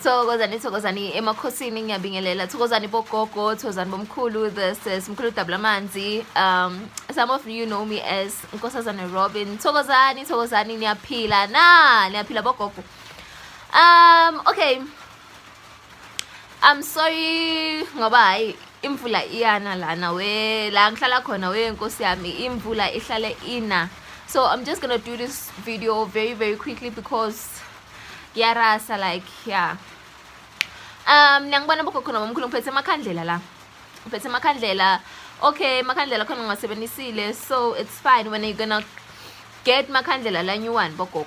thokozani thokozani emakhosini ngiyabingelela thokozani bogogo thokozani bomkhulu this is mkhulu dabula amanzi um some of you know me as nkosazana robin thokozani thokozani niyaphila na niyaphila bogogo um okay I'm sorry ngoba hayi imvula iyana lana we la ngihlala khona we nkosi yami imvula ihlale ina so I'm just gonna do this video very very quickly because yarasa like yeah um niyangibona bogogo noma omkhulu ngiphethe amakhandlela la ngiphethe amakhandlela okay makhandlela khona ngiwasebenisile so it's fine when are you gonna get makhandlela la new one bogogo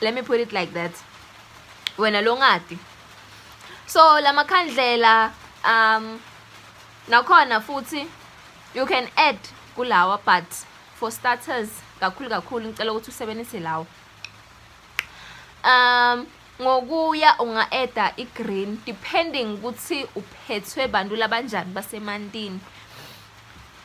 let me put it like that wena longati so lamakhandlela um nakhona futhi you can add kulawa but for starters kakhulu kakhulu ngicela ukuthi usebenzise lawo um ngokuya unga-eda i-green depending ukuthi uphethwe bantu labanjani basemantini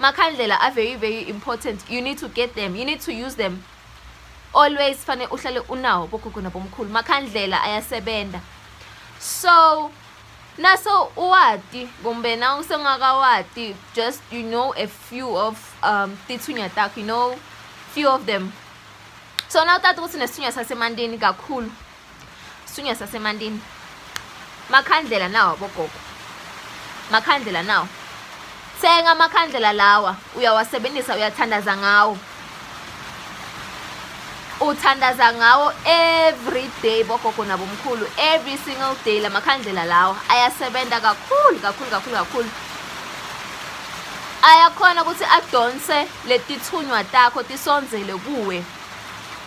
Makhandlela are very very important you need to get them you need to use them always fane uhlale unawo bogogo nabomkhulu makhandlela ayasebenza so naso uwati kumbe na usengakawati just you know a few of um tithunya takho you know few of them so na utata ukuthi nesithunya sasemandini kakhulu Sunya sasemantini. Makhandlela nawo bogogo. Makhandlela nawo. Thenga amakhandlela lawa uyawasebenzisa uyathandaza ngawo. Uthandaza ngawo every day bogogo nabomkhulu every single day lamakhandlela lawa ayasebenza kakhulu kakhulu kakhulu kakhulu. Ayakhona ukuthi adonse letithunywa takho tisondzele kuwe.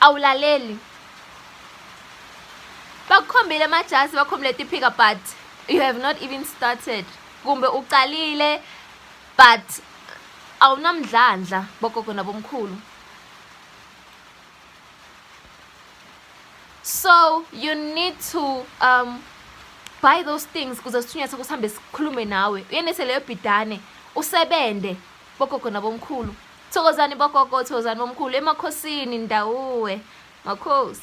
awulaleli bakukhombile amajasi bakhombile tiphika but you have not even started kumbe uqalile but awunamdlandla bogogo nabomkhulu so you need to um buy those things kuze sithunywa sakho sihambe sikhulume nawe uyenese leyo bhidane usebende bogogo nabomkhulu Thokozani bogogo, thokozani bomkhulu emakhosini ndawuwe. Makhosi.